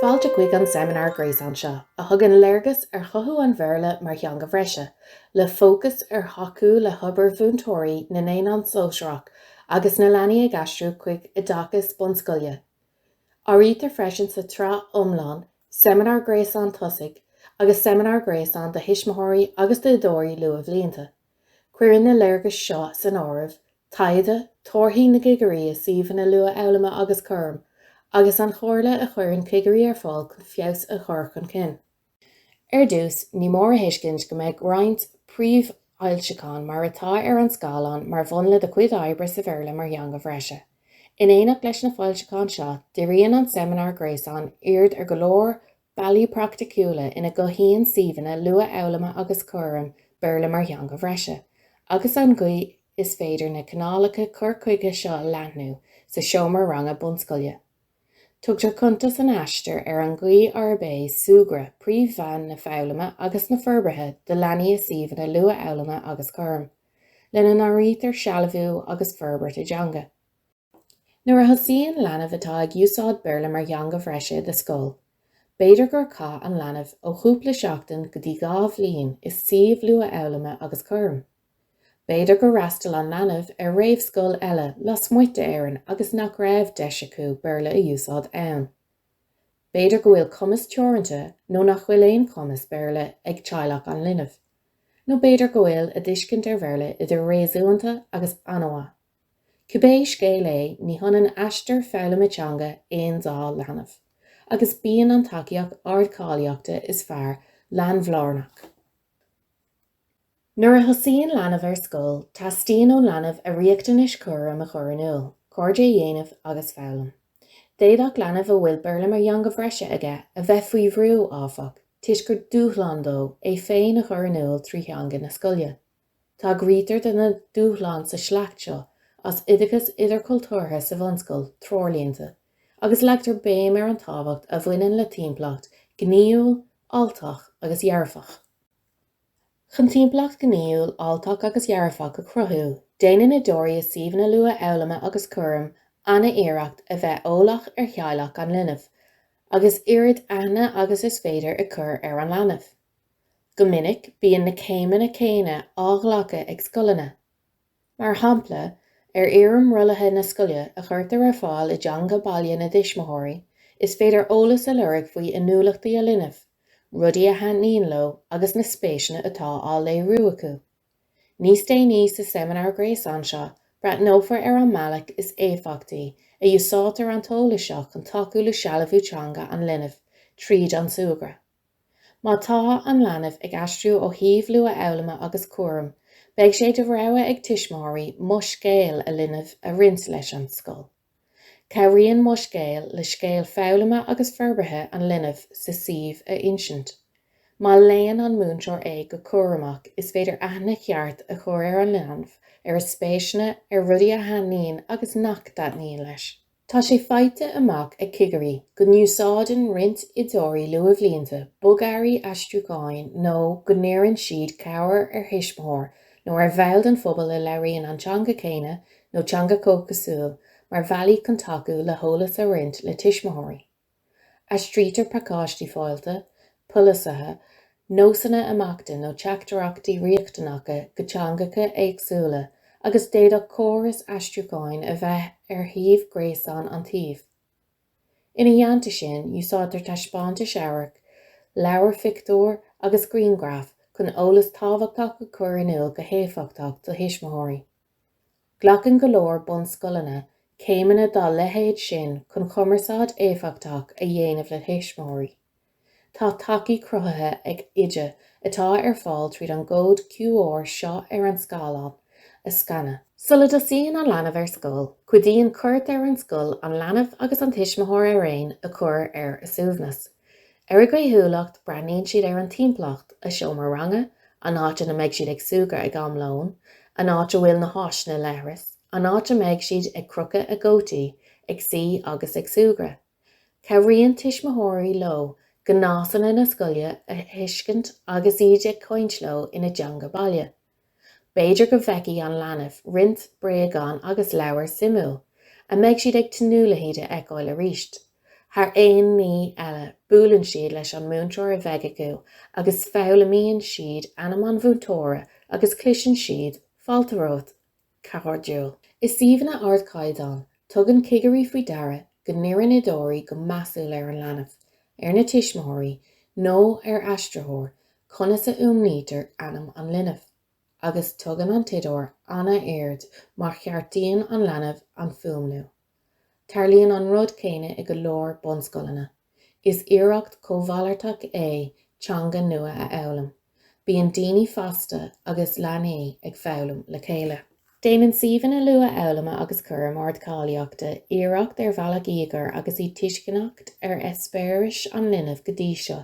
Fáilte chuig an seimineár gréasáin seo, a thugann léargas ar chothú an Bhéarla mar theanga bhreise, le fócas ar thacú le hobair mhúinteoirí na naonán sóisearach agus na leanaí ag aistriú chuig oideachas bunscoile. Áirítear freisin sa tsraith iomlán Seimineár Gréasáin Tosaigh agus Seimineár Gréasáin do Thuismitheoirí agus d'Oideoirí Luathbhlianta. Cuireann na léargais seo san áireamh taighde, torthaí na gcigirí i suíomhanna luathfhoghlama agus cúraim, agus an chomhairle a chuireann cigirí ar fáil chun feabhas a chur chun cinn. Ar dtús, ní mór a thuiscint go mbeidh roinnt príomhfhoilseachán mar atá ar an scáileán mar mhúnla do chuid oibre sa Bhéarla mar theanga bhreise. In éineacht leis na foilseacháin seo, díríonn an seimineár gréasáin aird ar go leor bealaí praiticiúla ina gcothaíonn suíomhanna luathfhoghlama agus cúraim Béarla mar theanga bhreise, agus an gcaoi is féidir na cineálacha cur chuige seo a leathnú sa seomra ranga bunscoile. Tugtar cuntas in Aistear ar an gcaoi arb é súgradh príomh-mheán na foghlama agus na forbartha do leanaí i suíomhanna luathfhoghlama agus cúraim, lena n-áirítear sealbhú agus forbairt a dteanga. Nuair a thosaíonn leanbh atá ag úsáid Béarla mar theanga bhreise i do scoil, b'fhéidir gur chaith an leanbh ó chúpla seachtain go dtí dhá bhliain i suíomh luathfhoghlama agus cúraim. B'fhéidir gur fhreastal an leanbh ar réamhscoil eile lasmuigh d'Éirinn agus nach raibh deis acu Béarla a úsáid ann. B'fhéidir go bhfuil cumas teoranta nó nach bhfuil aon chumas Béarla ag teaghlach an linbh. Nó b'fhéidir go bhfuil a dtuiscint ar Bhéarla idir réasúnta agus an-mhaith. Cibé scéal é ní hionann aistear foghlama teanga aon dá leanbh agus bíonn an tacaíocht ardcháilíochta is fearr leanbhlárnach. Nuair a thosaíonn leanbh ar scoil, teastaíonn ón leanbh a riachtanais cúraim a chur in iúl, cairde a dhéanamh agus foghlaim. D'fhéadfadh leanbh a bhfuil Béarla mar theanga bhreise aige a bheith faoi bhrú, áfach, toisc gur dúshlán dó é féin a chur in iúl trí theanga na scoile. Tagraítear do na dúshláin sa sliocht seo as Oideachas Idirchultúrtha sa Bhunscoil, Treoirlínte, agus leagtar béim ar an tábhacht a bhaineann le timpeallacht ghnaíúil, fháilteach agus dhearfach. Chun timpeallacht ghnaíúil, fháilteach agus dhearfach a chruthú, déanann oideoirí i suíomhanna luathfhoghlama agus cúraim an-iarracht a bheith eolach ar theaghlach an linbh, agus oiread aithne agus is féidir a chur ar an leanbh. Go minic, bíonn na céimeanna céanna á nglacadh ag scoileanna. Mar shampla, ar fhoirm rollaithe na scoile, a chuirtear ar fáil i dteanga baile na dtuismitheoirí, is féidir eolas a lorg faoi inniúlachtaí a linbh, rudaí a thaitníonn leo agus na spéiseanna atá á léiriú acu. Níos déanaí sa seimineár gréasáin seo, breathnófar ar an mbealach is éifeachtaí a úsáidtear an t-eolas seo chun tacú le sealbhú teanga an linbh tríd an súgradh. Má tá an leanbh ag aistriú ó shuíomh luathfhoghlama agus cúraim, beidh sé de rogha ag tuismitheoirí Mo Scéal a Linbh a roinnt leis an scoil. Cabhraíonn Mo Scéal le scéal foghlama agus forbartha an linbh sa suíomh a insint. Má léann an múinteoir é go cúramach, is féidir aithne cheart a chur ar an leanbh, ar a spéiseanna, ar rudaí a thaitníonn agus nach dtaitníonn leis. Tá sé faighte amach ag cigirí go n-úsáideann roinnt oideoirí luathbhlianta bogearraí aistriúcháin nó go n-iarrann siad cabhair ar thuismitheoir nó ar bhall den phobal a labhraíonn an teanga chéanna nó teanga chomhchosúil mar bhealaí chun tacú le heolas a roinnt le tuismitheoirí. Aistrítear pacáistí fáilte, polasaithe, nósanna imeachta nó teachtaireachtaí riachtanacha go teangacha éagsúla agus d'fhéadfadh córas aistriúcháin a bheith ar shuíomh gréasáin an tsuímh. Ina theannta sin, úsáidtear taispeántais amhairc, leabhair phictiúr agus grianghraif chun eolas tábhachtach a chur in iúl go héifeachtach do thuismitheoirí. Glacann go leor bunscoileanna céimeanna dá leithéid sin chun chumarsáid éifeachtach a dhéanamh le tuismitheoirí. Tá tacaí cruthaithe ag Oide atá ar fáil tríd an gcód QR seo ar an scáileán a scanadh. Sula dtosaíonn an leanbh ar scoil, cuidíonn cuairt ar an scoil an leanbh agus an tuismitheoir araon a chur ar a suaimhneas. Ar a gcaoithiúlacht, breathnaíonn siad ar an timpeallacht, a seomra ranga, an áit ina mbeidh siad ag súgradh ag am lóin, an áit a bhfuil na háiseanna leithris, an áit a mbeidh siad ag crochadh a gcótaí, ag suí agus ag súgradh. Cabhraíonn tuismitheoirí leo gnásanna na scoile a thuiscint agus iad ag caint leo ina dteanga baile. B'fhéidir go bhfeicfidh an leanbh roinnt bréagán agus leabhar suimiúil, a mbeidh siad ag tnúth le hiad a fheiceáil arís. Thar aon ní eile, buaileann siad leis an múinteoir a bheidh acu agus foghlaimíonn siad ainm an mhúinteora agus cloiseann siad, Fáilte romhat! cairdiúil. I suíomhanna ardchaighdeáin, tugann cigirí faoi deara go n-iarrann oideoirí go measúil ar an leanbh, ar na tuismitheoirí nó ar aistritheoir, conas a fhuaimnítear ainm an linbh, agus tugann an t-oideoir an-aird má cheartaíonn an leanbh an fuaimniú. Tarlaíonn an rud céanna i go leor bunscoileanna. Is iarracht cómhalartach é teanga nua a fhoghlaim. Bíonn daoine fásta agus leanaí ag foghlaim le chéile. Déanann suíomhanna luathfhoghlama agus cúraim ardcháilíochta iarracht ar bhealach íogair agus iad tuisceanach ar eispéiris an linbh go dtí seo,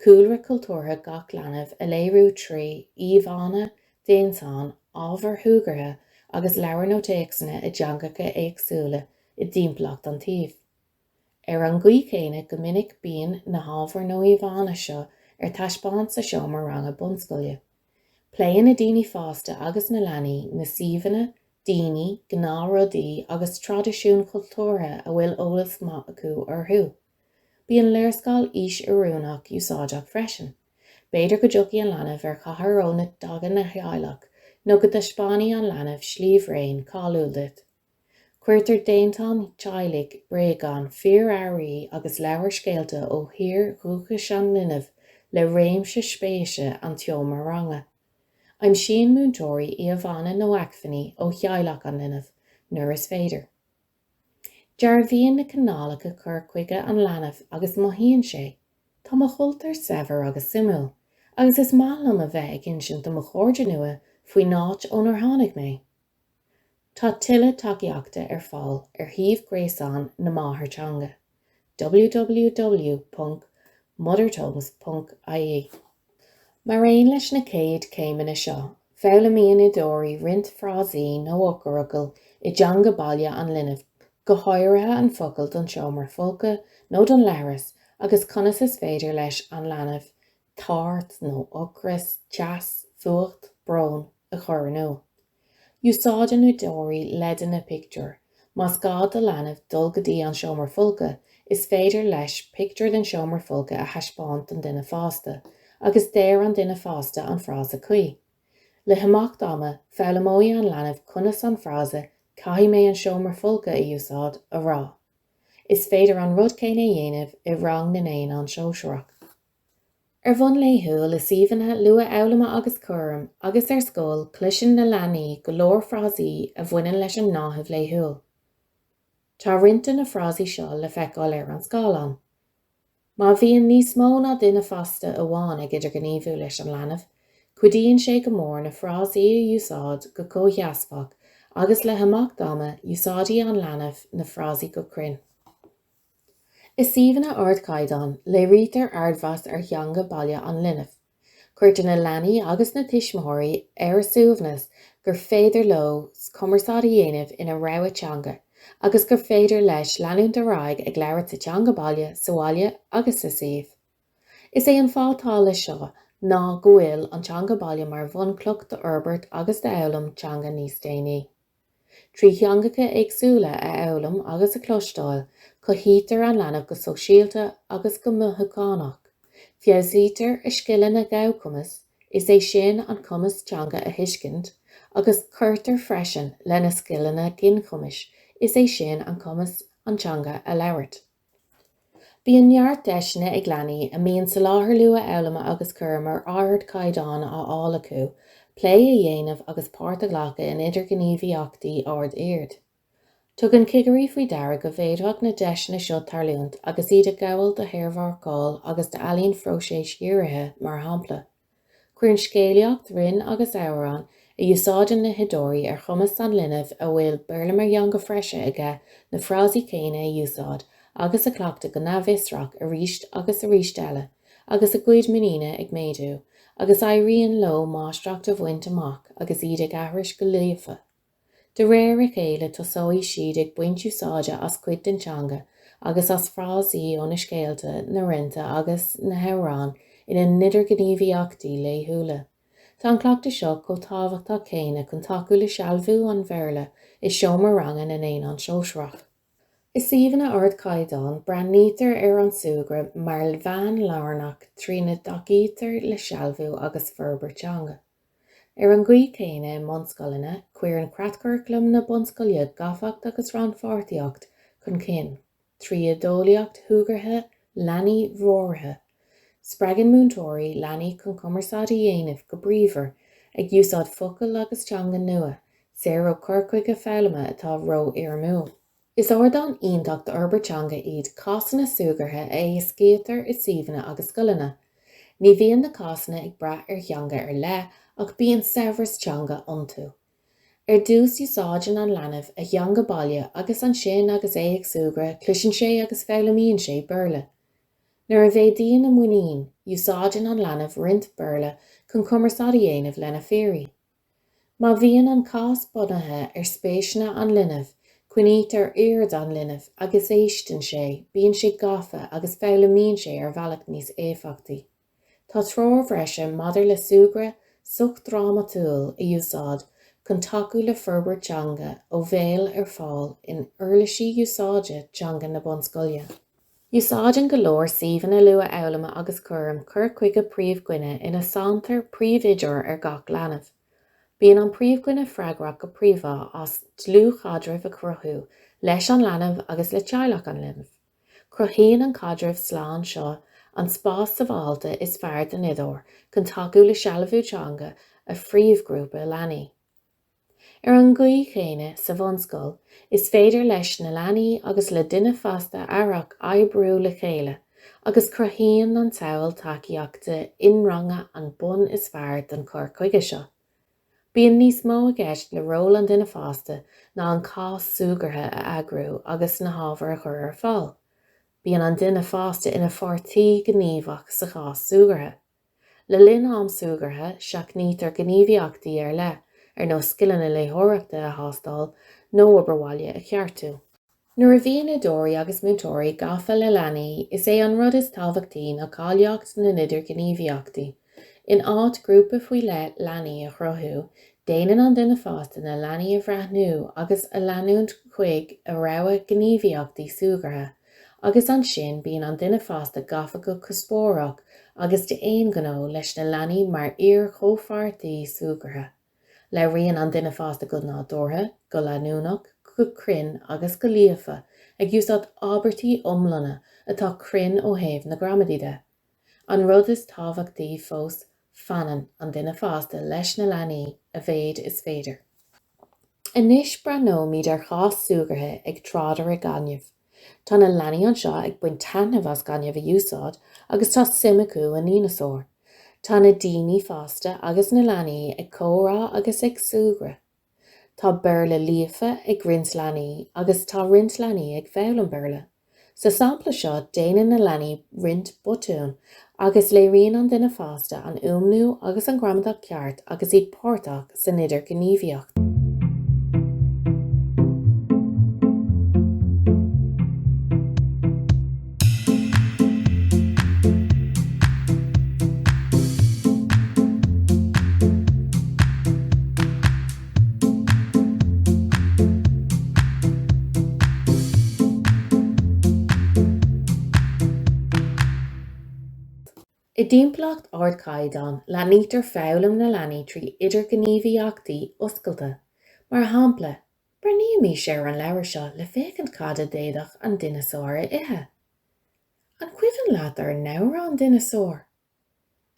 cúlra cultúrtha gach leanbh a léiriú trí íomhánna, déantáin, ábhair shúgartha agus leabhair nó téacsanna i dteangacha éagsúla i dtimpeallacht an tsuímh. Ar an gcaoi chéanna go minic bíonn na hábhair nó íomhánna seo ar taispeáint sa seomra ranga bunscoile. Pléann na daoine fásta agus na leanaí na suíomhanna, daoine, gnáthrudaí agus traidisiúin chultúrtha a bhfuil eolas maith acu orthu. Bíonn léarscáil aois-oiriúnach úsáideach freisin. B'fhéidir go dtiocfaidh an leanbh ar chathair ó na dtagann a theaghlach nó go dtaispeánfaidh an leanbh sliabhraon cáiliúil duit. Cuirtear déantáin teaghlaigh, bréagáin, fíorearraí agus leabhair scéalta ó thír dhúchais an linbh le réimse spéise an tseomra ranga. Aimsíonn múinteoirí íomhánna nó acmhainní ó theaghlach an linbh nuair is féidir. Dearbhaíonn na cineálacha cur chuige an leanbh agus mothaíonn sé, 'Tá mo chultúr saibhir agus suimiúil, agus is maith liom a bheith ag insint do mo chairde nua faoin áit ónar tháinig mé. Tá tuilleadh tacaíochta ar fáil ar shuíomh gréasáin na máthairtheanga. www.mothertongues.ie Mar aon leis na chéad céimeanna seo, foghlaimíonn oideoirí roinnt frásaí nó eochairfhocail i dteanga baile an linbh, go háirithe an focal don seomra folctha nó don leithreas agus conas is féidir leis an leanbh tart nó ocras, teas, fuacht, brón, a chur in iúl. Úsáideann oideoirí leideanna pictiúr. Más gá do leanbh dul go dtí an seomra folctha, is féidir leis pictiúr den seomra folctha a thaispeáint don duine fásta agus deir an duine fásta an frása cuí. Le himeacht ama, foghlaimeoidh an leanbh conas an frása 'Caithfidh mé an seomra folctha a úsáid' a rá. Is féidir an rud céanna a dhéanamh i rang na naíonán sóisearach. Ar bhonn laethúil i suíomhanna luathfhoghlama agus cúraim agus ar scoil cloiseann na leanaí go leor frásaí a bhaineann leis an ngnáthamh laethúil. Tá roinnt de na frásaí seo le feiceáil ar an scáileán. Má bhíonn níos mó ná duine fásta amháin ag idirghníomhú leis an leanbh, cuidíonn sé go mór na frásaí a úsáid go comhsheasmhach agus le himeacht ama úsáidfidh an leanbh na frásaí go cruinn. I suíomhanna ardchaighdeáin, léirítear ardmheas ar theanga baile an linbh. Cuirtear na leanaí agus na tuismitheoirí ar a suaimhneas gur féidir leo cumarsáid a dhéanamh ina rogha teanga agus gur féidir leo leanúint ar aghaidh ag labhairt sa teanga baile sa bhaile agus sa suíomh. Is é an fáth atá leis seo ná go bhfuil an teanga baile mar bhunchloch d'fhorbairt agus d'fhoghlaim teanga níos déanaí. Trí theangacha éagsúla a fhoghlaim agus a chloisteáil, cothaítear an leanbh go sóisialta agus go mothúchánach. Feabhsaítear a scileanna gabhchumais, is é sin, an cumas teanga a thuiscint, agus cuirtear freisin lena scileanna ginchumais, is é sin, an cumas an teanga a labhairt. Bíonn neart deiseanna ag leanaí a mbíonn soláthar luathfhoghlama agus cúram ar ardchaighdeán á fháil acu, plé a dhéanamh agus páirt a ghlacadh in idirghníomhaíochtaí ard-oird. Tugann cigirí faoi deara go bhféadfadh na deiseanna seo tarlúint agus iad ag gabháil do shaormharcáil agus d'ealaín phróiseas-dhírithe mar shampla. Cuireann scéalaíocht, rainn agus amhráin a úsáideann na hoideoirí ar chumas an linbh a bhfuil Béarla mar theanga bhreise aige na frásaí céanna a úsáid agus a chleachtadh go n-athfhriotalach arís agus arís eile agus a gcuid muiníne ag méadú agus éiríonn leo máistreacht a bhaint amach agus iad ag aithris go líofa. De réir a chéile tosóidh siad ag baint úsáide as cuid den teanga agus as frásaí ó na scéalta, na rannta agus na hamhráin ina n-idirghníomhaíochtaí laethúla. Tá an cleachtadh seo chomh tábhachtach céanna chun tacú le sealbhú an Bhéarla i seomra ranga na naíonán sóisearach. I suíomhanna ardchaighdeáin breathnaítear ar an súgradh mar mheán lárnach trína dtacaítear le sealbhú agus forbairt teanga. Ar an gcaoi chéanna i mbunscoileanna, cuireann creatchuraclam na bunscoile gafacht agus rannpháirtíocht chun cinn, trí oideolaíocht shúgartha leanaí mheallaithe. Spreagann múinteoirí leanaí chun cumarsáid a dhéanamh go bríomhar, ag úsáid focail agus teanga nua, saor ó chur chuige foghlama atá ró-fhoirmiúil. Is ardán iontach d'fhorbairt teanga iad cásanna súgartha a éascaítear i suíomhanna agus scoileanna. Ní bhíonn na cásanna ag brath ar theanga ar leith ach bíonn saibhreas teanga iontu. Ar dtús úsáideann an leanbh a theanga baile agus ansin agus é ag súgradh cloiseann sé agus foghlaimíonn sé Béarla. Nuair a mhéadaíonn a muinín, úsáideann an leanbh roinnt Béarla chun cumarsáid a dhéanamh lena phiaraí. Má bhíonn an cás bunaithe ar spéiseanna an linbh, coinnítear aird an linbh agus éisteann sé, bíonn sé gafa agus foghlaimíonn sé ar bhealach níos éifeachtaí. Tá treoir bhreise maidir le súgradh sochdhrámatúil a úsáid chun tacú le forbairt teanga ó bhéal ar fáil in Uirlisí Úsáide Teanga na Bunscoile. Úsáideann go leor suíomhanna luathfhoghlama agus cúraim cur chuige príomhdhuine ina sanntar príomhoideoir do gach leanbh. Bíonn an príomhdhuine freagrach go príomhá as dlúthchaidreamh a chruthú leis an leanbh agus le teaghlach an linbh. Cruthaíonn an caidreamh slán seo an spás sábháilte is fearr don oideoir chun tacú le sealbhú teanga a phríomhghrúpa leanaí. Ar an gcaoi chéanna, sa bhunscoil, is féidir leis na leanaí agus le duine fásta aireach oibriú le chéile agus cruthaíonn an tsamhail tacaíochta inranga an bonn is fearr don chur chuige seo. Bíonn níos mó i gceist le ról an duine fásta ná an cás súgartha a eagrú agus na hábhair a chur ar fáil, bíonn an duine fásta ina pháirtí gníomhach sa chás súgartha. Le linn am súgartha, seachnaítear gníomhaíochtaí ar leith, ar nós scileanna léitheoireachta a thástáil nó obair bhaile a cheartú. Nuair a bhíonn oideoirí agus múinteoirí gafa le leanaí, is é an rud is tábhachtaí ná cáilíocht na n-idirghníomhaíochtaí. In áit grúpa faoi leith leanaí a chruthú, déanann an duine fásta na leanaí a bhreathnú agus a leanúint chuig a rogha gníomhaíochtaí súgartha, Agus ansin bíonn an duine fásta gafa go cuspóireach agus d'aon ghnó leis na leanaí mar fhíorchomhpháirtí súgartha. Labhraíonn an duine fásta go nádúrtha, go leanúnach, go cruinn agus go líofa, ag úsáid abairtí iomlána atá cruinn ó thaobh na gramadaí de. An rud is tábhachtaí fós, fanann an duine fásta leis na leanaí a mhéid is féidir. Anois breathnóimid ar chás súgartha ag tráidire gainimh. Tá na leanaí anseo ag baint taitneamh as gaineamh a úsáid agus tá suim acu i ndineasáir. Tá na daoine fásta agus na leanaí ag comhrá agus ag súgradh. Tá Béarla líofa ag roinnt leanaí agus tá roinnt leanaí ag foghlaim Béarla. Sa sampla seo déanann na leanaí roinnt botún agus léiríonn an duine fásta an fhuaimniú agus an gramadach ceart agus iad páirteach san idirghníomhaíocht. I dtimpeallacht ardchaighdeán, leathnaítear foghlaim na leanaí trí idirghníomhaíochtaí oscailte, mar shampla, Breathnaímís ar an leabhar seo le féachaint cad a d'fhéadfadh an dineasár a ithe. An cuimhin leat ár n-amhrán dineasáir?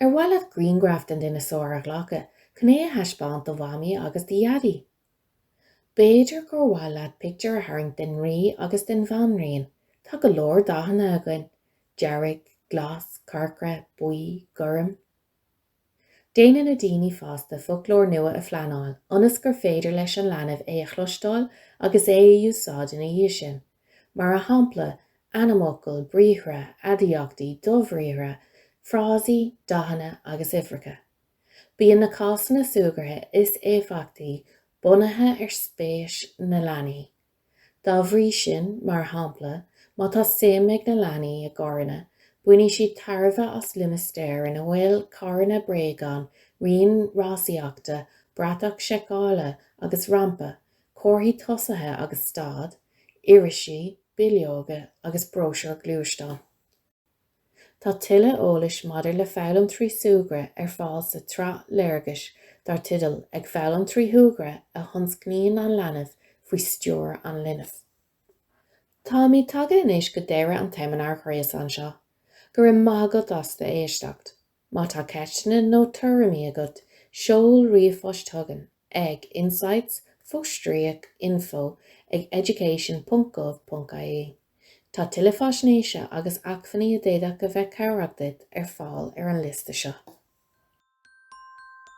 Ar mhaith leat grianghraf den dineasár a ghlacadh chun é a thaispeáint do Mhamaí agus do Dhaidí? B'fhéidir gur mhaith leat pictiúr a tharraingt den Rí agus den Bhanríon, tá go leor dathanna againn, dearg, glas, corcra, buí, gorm. Déanann na daoine fásta foclóir nua a phleanáil ionas gur féidir leis an leanbh é a chloisteáil agus é a úsáid ina dhiaidh sin, mar a shampla, ainmfhocail, briathra, aidiachtaí, dobhriathra, frásaí, dathanna agus uimhreacha. Bíonn na cásanna súgartha is éifeachtaí bunaithe ar spéis na leanaí. Dá bhrí sin, mar shampla, má tá suim ag na leanaí i gcarranna, bainfidh siad tairbhe as limistéar ina bhfuil carranna bréagán, rian rásaíochta, bratach seiceála agus rampa, comharthaí tosaithe agus stad, irisí, bileoga agus bróisiúir gluaisteán. Tá tuilleadh eolais maidir le Foghlaim Trí Súgradh ar fáil sa tsraith Léargais dar teideal Ag Foghlaim Trí Shúgradh a Thionscnaíonn an Leanbh faoi Stiúir an Linbh. Táimid tagtha anois go deireadh an tseimineáir ghréasáin seo. Go raibh maith agat as éisteacht. Má tá ceisteanna nó tuairimí agat, seol ríomhphost chugainn ag insights fostríoc info ag education.gov.ie. Tá tuilleadh faisnéise agus acmhainní a d'fhéadfadh a bheith cabhrach duit ar fáil ar an liosta seo.